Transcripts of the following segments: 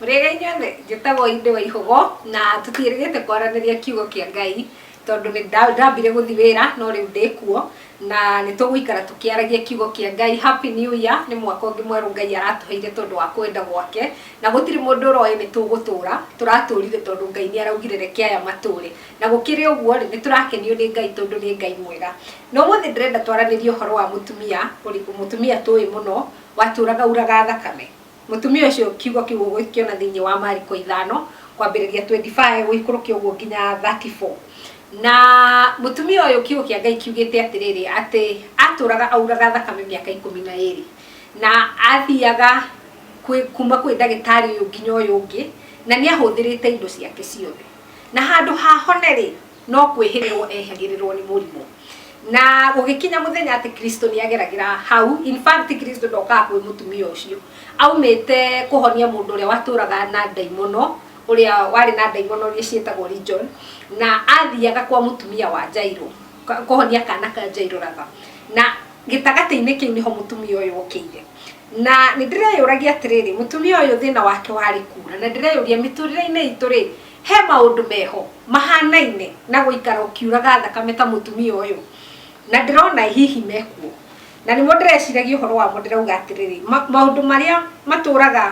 Mũrĩega inyuothe, njĩtagwo Inde Waihũgo na tũtiĩrĩgĩte kwaranĩria kiugo kĩa Ngai tondũ nĩ nda- ndambire gũthi wĩra no rĩu ndĩ kuo na nĩ tũgũikara tũkĩaragia kiugo kĩa Ngai. Happy New Year nĩ mwaka ũngĩ mwerũ Ngai aratũheire tondũ wa kwenda gwake na gũtirĩ mũndũ ũroĩ nĩ tũgũtũra, tũratũrire tondũ Ngai nĩ araugire reke aya matũre. Na gũkĩrĩ ũguo rĩ, nĩ tũrakenio nĩ Ngai tondũ nĩ Ngai mwega. Na ũmũthĩ ndĩrenda twaranĩrie ũhoro wa mũtumia, ũrĩ- mũtumia tũĩ mũno watũraga uraga thakame. Mũtumia ũcio, kiugo kĩu ũgũkĩona thĩinĩ wa Mariko ithano, kwambĩrĩria twendi bae gũikũrũkia ũguo nginya thati boo. Na mũtumia ũyũ kiugo kĩa Ngai kiugĩte atĩrĩrĩ, atĩ atũraga auraga thakame mĩaka ikũmi na ĩrĩ. Na athiaga kwĩ, kuuma kwĩ ndagĩtarĩ ũyũ nginya ũyũ ũngĩ, na nĩ ahũthĩrĩte indo ciake ciothe. Na handũ ha ahone rĩ, no kwĩhĩrĩrwo ehagĩrĩrwo nĩ mũrimũ na gũgĩkinya mũthenya atĩ kristo nĩ ageragĩra hau in fact kristo ndokaga kwĩ mũtumia ũcio aumĩte kũhonia mũndũ ũrĩa watũraga na ndaimono ũrĩa warĩ na ndaimono iria ciĩtagwo region na athiaga kwa mũtumia wa jairo ka- kũhonia kana ka jairo ratha na gĩtagatĩ-inĩ kĩu nĩho mũtumia ũyũ okĩire na nĩ ndĩreyũragia atĩrĩrĩ mũtumia ũyũ thĩna wake warĩ kura na ndĩreyũria mĩtũrĩre-inĩ itũ rĩ He maũndũ meho mahanaine na gũikara ũkiuraga thakame ta mũtumia ũyũ, na ndĩrona hihi mekuo, na nĩmo ndĩreciragia ũhoro wamo ndĩrauga atĩrĩrĩ, ma, maũndũ marĩa matũraga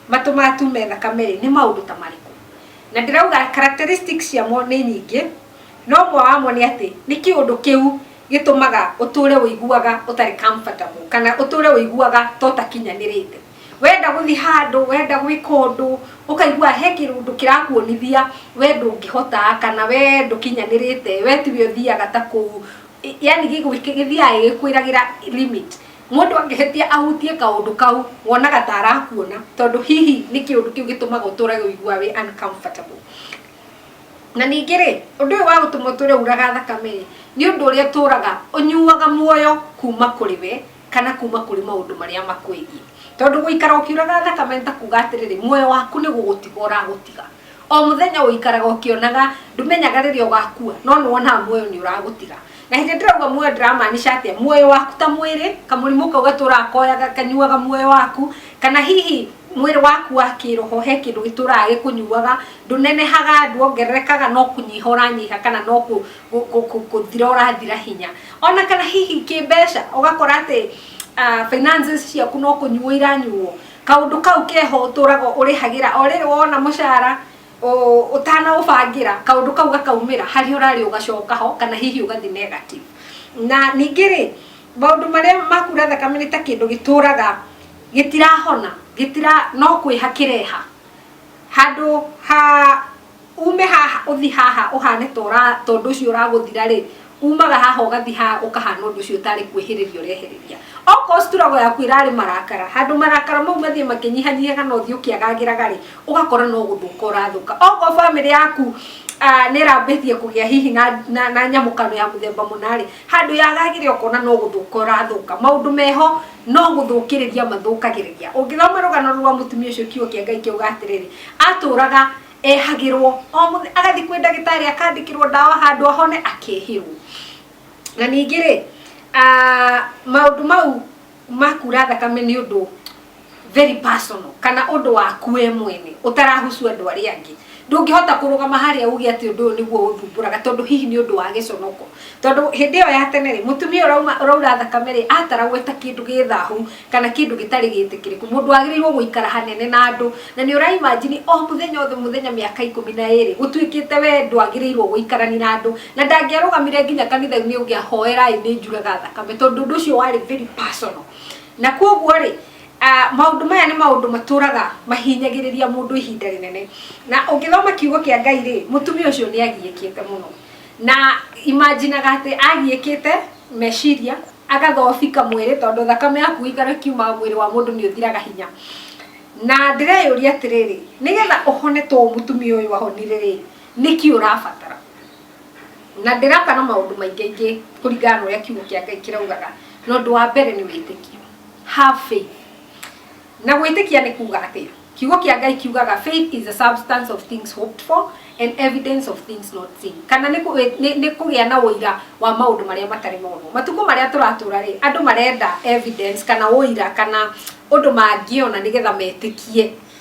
matũmaga tume thakame-rĩ, nĩ maũndũ ta marĩkũ? Na ndĩrauga characteristics ciamo nĩ nyingĩ, no ũmwe wamo nĩ atĩ, nĩ kĩũndũ kĩu gĩtũmaga ũtũre ũiguaga ũtarĩ comfortable, kana ũtũre ũiguaga ta ũtakinyanĩrĩte. Wenda gũthiĩ handũ, wenda gwĩka ũndũ, ũkaigua he kĩũndũ kĩrakuonithia we ndũngĩhota kana we ndũkinyanĩrĩte, we tiwe ũthiaga ta kũu, yaani gĩthiaga gĩgĩkwĩragĩra limit. Mũndũ angĩhĩtia ahutie kaũndũ kau, wonaga ta arakuona tondũ hihi nĩ kĩũndũ kĩu gĩtũmaga ũtũre ũiguaga wĩ uncomfortable. Na ningĩ-rĩ, ũndũ ũyũ wa gũtũma ũtũre ũraga thakame-rĩ, nĩ ũndũ ũrĩa ũtũraga ũnyuaga muoyo kuma kũrĩ we. kana kuma kũrĩ maũndũ marĩa makwĩgiĩ. Tondũ gũikara ũkĩũraga thakame nĩ ta kuuga atĩrĩrĩ, muoyo waku nĩ gũgũtiga ũragũtiga. O mũthenya ũikaraga ũkĩonaga, ndũmenyaga rĩrĩa ũgakua, no nĩ wonaga muoyo nĩ ũragũtiga. Na hĩndĩ ĩrĩa ndĩrauga muoyo ndĩramaanisha atĩa? Muoyo waku ta mwĩrĩ, kamũrimũ kau gatũraga koyaga kanyuaga muoyo waku, kana hihi mwĩrĩ waku wa kĩroho he kĩndũ gĩtũraga gĩkũnyuaga, ndũnenehaga, nduongererekaga, no kũnyiha ũranyiha kana no kũ... gũthira ũrathira hinya ona kana hihi kĩmbeca ũgakora atĩ ah, finances ciaku no kũnyuo iranyuo kaũndũ kau keho ũtũraga ũrĩhagĩra o rĩrĩ wona mũcara ũtanaũbangĩra kaũndũ kau gakaumĩra harĩa ũrarĩ ũgacoka ho kana hihi ũgathi negative na ningĩ rĩ maũndũ marĩa makura thakame nĩ ta kĩndũ gĩtũraga gĩtirahona gĩtira no kwĩha kĩreha handũ ha Ume haha ũthi haha ũhane ta ũra ta ũndũ ũcio ũragũthira rĩ, umaga haha ũgathi haha ũkahana ũndũ ũcio ũtarĩ kwĩhĩrĩria ũrehĩrĩria. Okorwo struggle yaku ĩrarĩ marakara, handũ marakara mau mathiĩ makĩnyihanyihaga na ũthiĩ ũkĩagagĩraga rĩ, ũgakora no gũthũka ũrathũka. Okorwo family yaku nĩ ĩrambĩtie kũgĩa hihi na na na nyamũkano ya mũthemba mũna rĩ, handũ yagagĩre ũkona no gũthũka ũrathũka. Maũndũ meho no gũthũkĩrĩria mathũkagĩrĩria. Ũngĩthoma rũgano rũu rwa mũtumia ũcio kiugo kĩa Ngai kiuga atĩrĩrĩ, atũraga ehagĩrwo o mũthenya agathiĩ kwĩ ndagĩtarĩ akandĩkĩrwo ndawa handũ ahone akehĩrwo. Na ningĩ rĩ, ah, maũndũ mau makura thakame nĩ ũndũ very personal kana ũndũ waku we mwene ũtarahusu andũ arĩa angĩ ndũngĩhota kũrũgama harĩa uge atĩ ũndũ ũyũ nĩguo ũthumbũraga tondũ hihi nĩ ũndũ wa gĩconoko tondũ hĩndĩ ĩyo ya tene rĩ mũtumia ũrauma ũraura thakame rĩ ataragwo eta kĩndũ gĩ thahu kana kĩndũ gĩtarĩ gĩtĩkĩrĩku mũndũ wagĩrĩirwo gũikara hanene na andũ na nĩ ũraimajini o mũthenya othe mũthenya mĩaka ikũmi na ĩrĩ gũtuĩkĩte we ndwagĩrĩirwo gũikarani na andũ na ndangĩarũgamire nginya kanitha-inĩ ũngĩahoerai nĩ njuraga thakame tondũ ũndũ ũcio warĩ very personal na kwoguo rĩ Maũndũ maya nĩ maũndũ matũũraga mahinyagĩrĩria mũndũ ihinda rĩnene. Na ũngĩthoma kiugo kĩa Ngai-rĩ, mũtumia ũcio nĩ agiĩkĩte mũno. Na imagine aga atĩ agiĩkĩte meciria, agathobika mwĩrĩ, tondũ thakame ya kũgĩkana ĩkiumaga mwĩrĩ wa mũndũ nĩ ũthiraga hinya. Na ndĩreyũria atĩrĩrĩ, nĩgetha ũhone ta ũũ mũtumia ũyũ ahonire-rĩ, nĩkĩ ũrabatara? Na ndĩraka na maũndũ maingĩ ingĩ kũringana na ũrĩa kiugo kĩa Ngai kĩraugaga. Na ũndũ wa mbere nĩ wĩtĩkio. Have faith. Na gwĩtĩkia nĩ kuuga atĩa? Kiugo kĩa Ngai kiugaga faith is the substance of things hoped for and evidence of things not seen. Kana nĩ nĩ kũgĩa na ũira wa maũndũ marĩa matarĩ monwo. Matukũ marĩa tũratũra rĩ, andũ marenda evidence kana ũira kana ũndũ mangĩona nĩgetha metĩkie.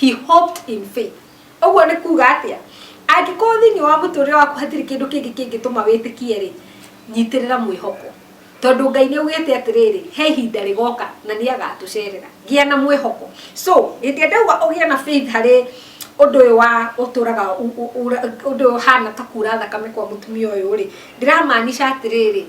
He hoped in faith. Ũguo nĩ kuuga atĩa? Angĩkorwo thĩinĩ wa mũtũrĩre waku hatirĩ kĩndũ kĩngĩ kĩngĩtũma wĩtĩkie rĩ, nyitĩrĩra mwĩhoko. Tondũ Ngai nĩ augĩte atĩrĩrĩ, he ihinda rĩgoka na nĩ agatũcerera. Gĩa na mwĩhoko. So, hĩndĩ ĩrĩa ndauga ũgĩe na faith harĩ ũndũ ũyũ wa ũtũraga ũndũ ũyũ ũhana ta kuura thakame kwa mũtumia ũyũ rĩ, ndĩramaanisha atĩrĩrĩ,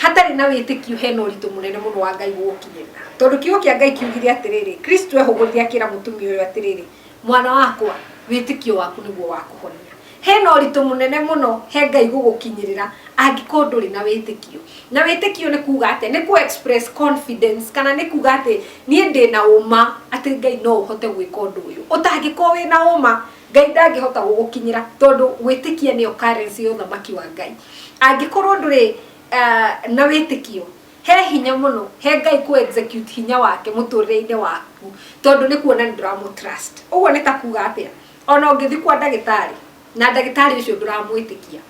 Hatarĩ na wĩtĩkio hena ũritũ mũnene mũno wa Ngai gũgũkinyĩrĩra. Tondũ kiugo kĩa Ngai kiugire atĩrĩrĩ, Kristo ehũgũrire akĩra mũtumia ũyũ atĩrĩrĩ, Mwana wakwa, wĩtĩkio waku nĩguo wakũhonia. Hena ũritũ mũnene mũno he Ngai gũgũkinyĩrĩra angĩkorwo ndũrĩ na wĩtĩkio. Na wĩtĩkio nĩ kuga atĩa? Nĩ kũ express confidence kana nĩ kuga atĩ niĩ ndĩna ũma atĩ Ngai no ũhote gwĩka ũndũ ũyũ. Ũtangĩkorwo wĩna ũma. Ngai ndangĩhota gũgũkinyĩra, tondũ gwĩtĩkia nĩyo currency ya ũthamaki wa Ngai. Angĩkorwo ndũrĩ na wĩtĩkio, he hinya mũno he Ngai kũ execute hinya wake mũtũrĩre-inĩ waku, tondũ nĩ kuona nĩ ndũramũ trust. Ũguo nĩ ta kuga atĩa? Ona ũngĩthiĩ kwa ndagĩtarĩ, na ndagĩtarĩ ũcio ndũramwĩtĩkia,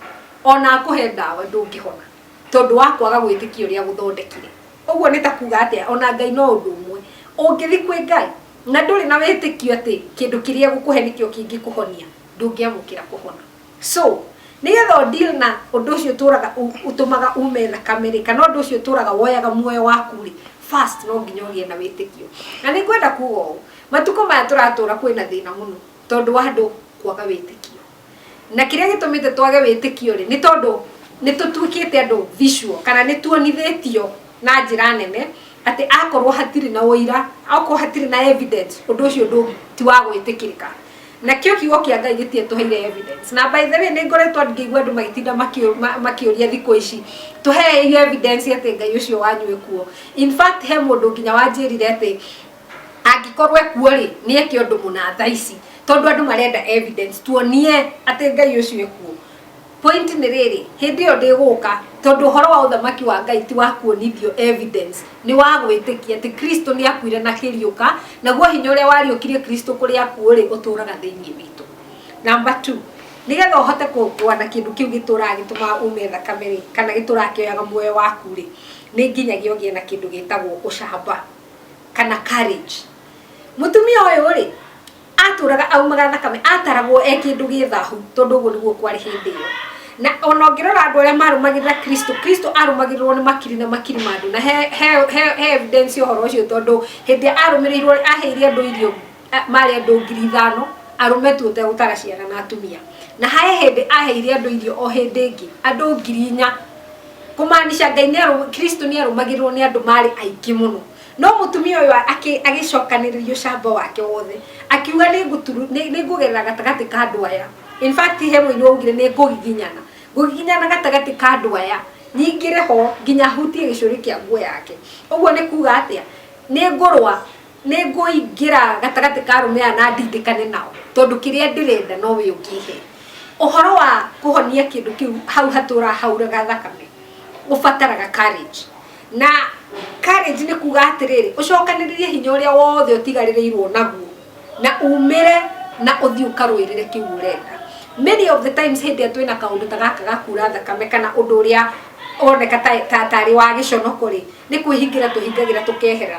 ona akũhe ndawa ndũngĩhona, tondũ wa kwaga gwĩtĩkia ũrĩa agũthondekire. Ũguo nĩ ta kuga atĩa? Ona Ngai no ũndũ ũmwe. Ũngĩthiĩ kwĩ Ngai. Na ndũrĩ na wĩtĩkio atĩ kĩndũ kĩrĩa egũkũhe nĩkĩo kĩngĩkũhonia, ndũngĩamũkĩra kũhona. So, nĩ getha ũ deal na ũndũ ũcio ũtũraga ũtũmaga ume thakame rĩ, kana ũndũ ũcio ũtũraga woyaga muoyo waku rĩ, first no nginya ũgĩe na wĩtĩkio. Na nĩ ngwenda kuga ũũ, matukũ maya tũratũra kwĩna thĩna mũno tondũ wa andũ kwaga wĩtĩkio. Na kĩrĩa gĩtũmĩte twage wĩtĩkio-rĩ, nĩ tondũ nĩ tũtuĩkĩte andũ visual, kana nĩ tuonithĩtio na njĩra nene atĩ akorũo hatirĩ na ũira, okorũo hatirĩ na evidence, ũndũ ũcio ndũ, ti wa gwĩtĩkĩrĩka. Nakĩo Kiugo kĩa Ngai gĩtiatũheire evidence. Na by the way, nĩ ngoretwo ngĩigua andũ magĩtinda makĩũria thikũ ici, Tũhei evidence atĩ Ngai ũcio wanyu e kuo. In fact, he mũndũ nginya wanjĩrire atĩ, Angĩkorwo ekuo-rĩ, nĩ eke ũndũ mũna thaa ici, tondũ andũ marenda evidence, tuonie atĩ Ngai ũcio ekuo. Point nĩ rĩrĩ, hĩndĩ ĩyo ndĩgũka, tondũ ũhoro wa ũthamaki wa Ngai ti wa kuonithio evidence, nĩ wa gwĩtĩkia atĩ Kristo nĩ akuire na akĩriũka, naguo hinya ũrĩa wariũkirie Kristo kũrĩ akuũ-rĩ, ũtũraga thĩiniĩ witũ. Number two, nĩ getha ũhote kũrũa na kĩndũ kĩu gĩtũraga gĩtũmaga ume thakame-rĩ, kana gĩtũraga kĩoyaga muoyo waku-rĩ, nĩ nginyagia ũgĩe na kĩndũ gĩtagwo ũcamba. kana courage mutumia uyu ri aturaga aumaga thakame ataragwo e kindu gi thahu tondu guo niguo kwari hindi iyo na ona ngirora andu aria marumagirira kristo kristo arumagirirwo ni makiri na makiri ma andu na he he he evidence uhoro ucio tondu hindi arumirirwo aheire andu irio a- maarĩ andũ ngiri ithano, arũme tu ũtegũtara ciana na atumia. Na harĩ hĩndĩ aaheire andũ irio o hĩndĩ ĩngĩ, andũ ngiri inya. Kũmaanisha Ngai nĩ arũ- Kristo nĩ aarũmagĩrĩrwo nĩ andũ maarĩ aingĩ mũno. No mũtumia ũyũ a- akĩ- agĩcokanĩrĩria ũcamba wake wothe, akiuga nĩ ngũturu- nĩ- nĩ ngũgerera gatagatĩ ka andũ aya. In fact, he mũini waugire nĩ ngũgiginyana. Ngũgiginyana gatagatĩ ka andũ aya, nyingĩre ho nginya hutie gĩcũrĩ kĩa nguo yake. Ũguo nĩ kuuga atĩa? Nĩ ngũrũa Nĩ ngũingĩra gatagatĩ ka arũme aya na ndindĩkane nao, tondũ kĩrĩa ndĩrenda no wee ũkĩhe. Ũhoro wa kũhonia kĩndũ kĩu hau hatũũraga hauraga thakame, ũbataraga courage. Na courage nĩ kuuga atĩrĩrĩ, ũcokanĩrĩrie hinya ũrĩa wothe ũtigarĩrĩirwo naguo, na uumĩre na ũthiĩ ũkarũĩrĩre kĩu ũrenda. Many of the times hĩndĩ ĩrĩa twĩna kaũndũ ta gaka ga kuura thakame kana ũndũ ũrĩa woneka ta ta ta arĩ wa gĩconoko-rĩ, nĩ kwĩhingĩra twĩhingagĩra tũkehera.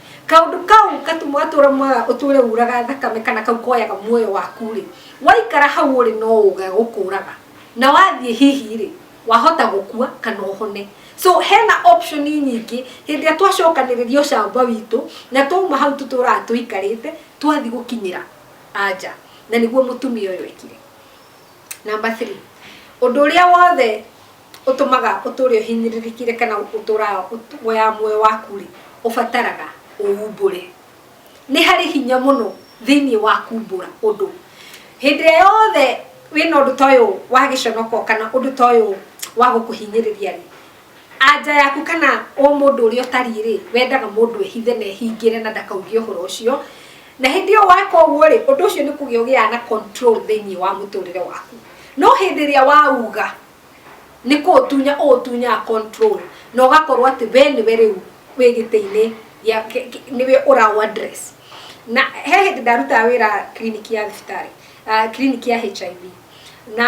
kaundu kau gatuma ũtũũro mwega ũtũũre ũraga thakame kana kau koyaga muoyo waku rĩ waikara hau ũrĩ no ũga gũkũraga na wathiĩ hihi rĩ wahota gũkua kana ũhone so hena option nyingĩ hĩndĩ ĩrĩa twacokanĩrĩria ũcamba witũ na twauma hau tũtũũraga tũikarĩte twathi gũkinyĩra anja na nĩguo mũtumia ũyũ ekire namba 3 ũndũ ũrĩa wothe ũtũmaga ũtũũre ũhinyĩrĩrĩkire kana ũtũũraga woyaga muoyo waku-rĩ, ũbataraga ũumbũre. Nĩ harĩ hinya mũno thĩiniĩ wa kuumbũra ũndũ. Hĩndĩ ĩrĩa yothe wĩna ũndũ ta ũyũ wa gĩconoko kana ũndũ ta ũyũ wa gũkũhinyĩrĩria-rĩ, anja yaku kana ũmũndũ ũrĩa ũtariĩ-rĩ, wendaga mũndũ ehithe na ehingĩre na ndakauge ũhoro ũcio. Na hĩndĩ ĩyo weka ũguo-rĩ, ũndũ ũcio nĩ kũgĩa ũgĩaga na control thĩiniĩ wa mũtũũrĩre waku. No hĩndĩ ĩrĩa wauga... nĩ kũũtunya ũũtunyaga control na ũgakorwo atĩ we nĩwe rĩu wĩ gĩtĩ-inĩ gĩa kĩ- kĩ- nĩwe ũraũ address na he hĩndĩ ndarutaga wĩra clinic ya thibitarĩ ah, clinic ya HIV na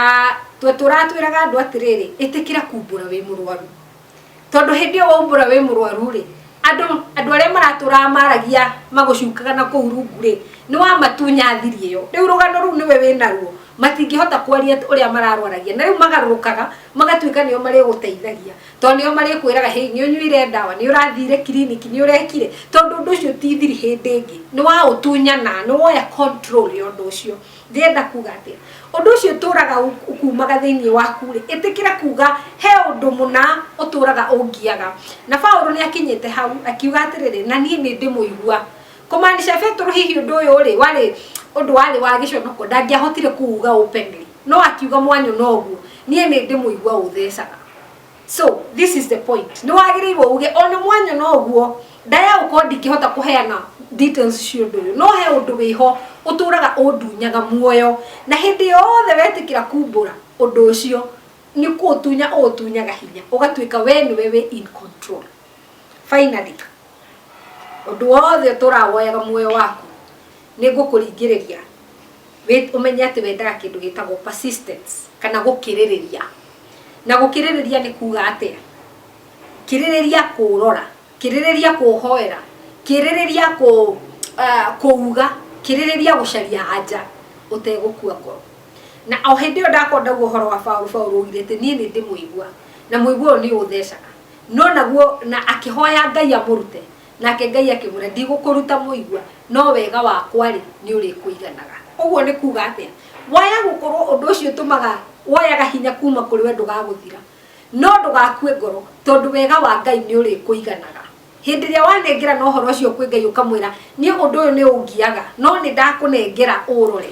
twe tũratwĩraga andũ atĩrĩrĩ ĩtĩkĩra kumbũra wĩ mũrwaru tondũ hĩndĩ ĩyo waumbũra wĩ mũrwaru rĩ andũ andũ arĩa maratũraga maragia magũcukaga na kũu rungu rĩ nĩ wamatunya thiri ĩyo rĩu rũgano rũu nĩwe wĩnaruo matingĩhota kwaria ũrĩa mararwaragia na rĩu magarũrũkaga magatuĩka nĩo marĩgũteithagia tondũ nĩo marĩkwĩraga hĩi nĩ ũnyuire ndawa nĩ ũrathire kiriniki nĩ ũrekire tondũ ũndũ ũcio ti thiri hĩndĩ ĩngĩ nĩ waũtunyana nĩ woya control ya ũndũ ũcio Ndĩrenda kuuga atĩa? Ũndũ ũcio ũtũũraga ũkuumaga thĩinĩ waku-rĩ, ĩtĩkĩra kuuga, He ũndũ mũna ũtũũraga ũngiaga. Na Paulo nĩ akinyĩte hau, akiuga atĩrĩrĩ, Na niĩ nĩ ndĩmũigua. Kũmaanisha Petero hihi ũndũ ũyũ-rĩ, warĩ ũndũ warĩ wa gĩconoko, ndangĩahotire kũuga openly. No akiuga mwanyũ na ũguo, Niĩ nĩ ndĩmũigua ũthecaga. so this is the point nä wagä irwo uge ona mwanya no guo ndaya gå korwo ndingĩhota kũheana details cio ũndũ ũyũ no he ũndũ wĩ ho ũtũraga ũndunyaga muoyo na hĩndĩ yothe wetĩkĩra kumbũra ũndũ ũcio nĩ kũũtunya ũũtunyaga hinya ũgatuĩka we nĩwe wĩ in control finally ũndũ wothe ũtũraga woyaga muoyo waku nĩ ngũkũringĩrĩria Ũmenye atĩ wendaga kĩndũ gĩtagwo persistence kana gũkĩrĩrĩria. Na gũkĩrĩrĩria nĩ kuuga atĩa? Kĩrĩrĩria kũũrora, kĩrĩrĩria kũũhoera, kĩrĩrĩria kũũga, kĩrĩrĩria gũcaria anja ũtegũkua ngoro. Na o hĩndĩ ĩyo ndakorwo ndauga ũhoro wa Paũlũ, Paũlũ augire atĩ, Niĩ nĩ ndĩ mũigua, na mũigua ũyũ nĩ ũũthecaga. No naguo, na akĩhoya Ngai amũrute. Nake Ngai akĩmwĩra, Ndigũkũruta mũigua, no wega wakwa-rĩ, nĩũrĩkũiganaga. Ũguo nĩ kuuga atĩa? Waya gũkorwo ũndũ ũcio ũtũmaga woyaga hinya kuuma kũrĩ we ndũgagũthira, no ndũgakue ngoro, tondũ wega wa Ngai nĩũrĩkũiganaga. Hĩndĩ ĩrĩa wanengerana ũhoro ũcio kwĩ Ngai ũkamwĩra, Niĩ ũndũ ũyũ nĩũngiaga, no nĩndakũnengera ũũrore.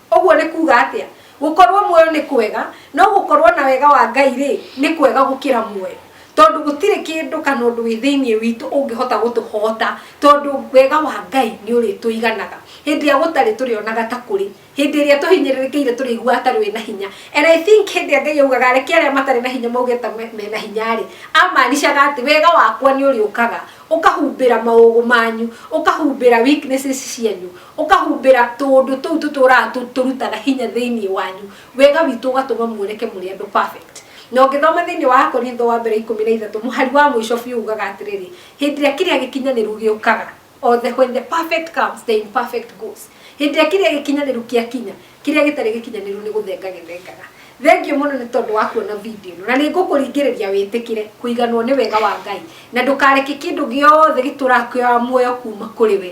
Ũguo nĩ kuuga atĩa? Gũkorũo muoyo nĩ kwega, no gũkorũo na wega wa Ngai-rĩ, nĩ kwega gũkĩra muoyo. Tondũ gũtirĩ kĩndũ kana ũndũ wĩ thĩinĩ witũ ũngĩhota gũtũhoota, tondũ wega wa Ngai nĩ ũrĩtũiganaga. Hĩndĩ ĩrĩa gũtarĩ tũrĩonaga ta kũrĩ. Hĩndĩ ĩrĩa tũhinyĩrĩrĩkĩire tũrĩiguaga ta rwĩ na hinya. And I think hĩndĩ ĩrĩa Ngai augaga reke arĩa matarĩ na hinya mauge ta me na hinya-rĩ, amaanishaga atĩ wega wakwa nĩ ũrĩũkaga ũkahumbĩra maũgũ manyu, ũkahumbĩra weaknesses cianyu. Ũkahumbĩra tũũndũ tũu tũtũũraga tũrutaga hinya thĩinĩ wanyu, wega witũ ũgatũma muoneke mũrĩ andũ perfect. Na ũngĩthoma thĩinĩ wa Akorintho wa Mbere ikũmi na ithatũ, mũhari wa mũico biũ uugaga atĩrĩrĩ, Hĩndĩ ĩrĩa kĩrĩa gĩkinyanĩru gĩũkaga, o the when the perfect comes, the imperfect goes. Hĩndĩ ĩrĩa kĩrĩa gĩkinyanĩru kĩakinya, kĩrĩa gĩtarĩ gĩkinyanĩru nĩ gũthenga gĩthengaga. Thengiũ mũno nĩ tondũ wa kuona video ĩno, na nĩ ngũkũringĩrĩria wĩtĩkĩre kũiganwo nĩ wega wa Ngai, na ndũkareke kĩndũ gĩothe gĩtũũraga kĩoyaga muoyo kuuma kũrĩ we.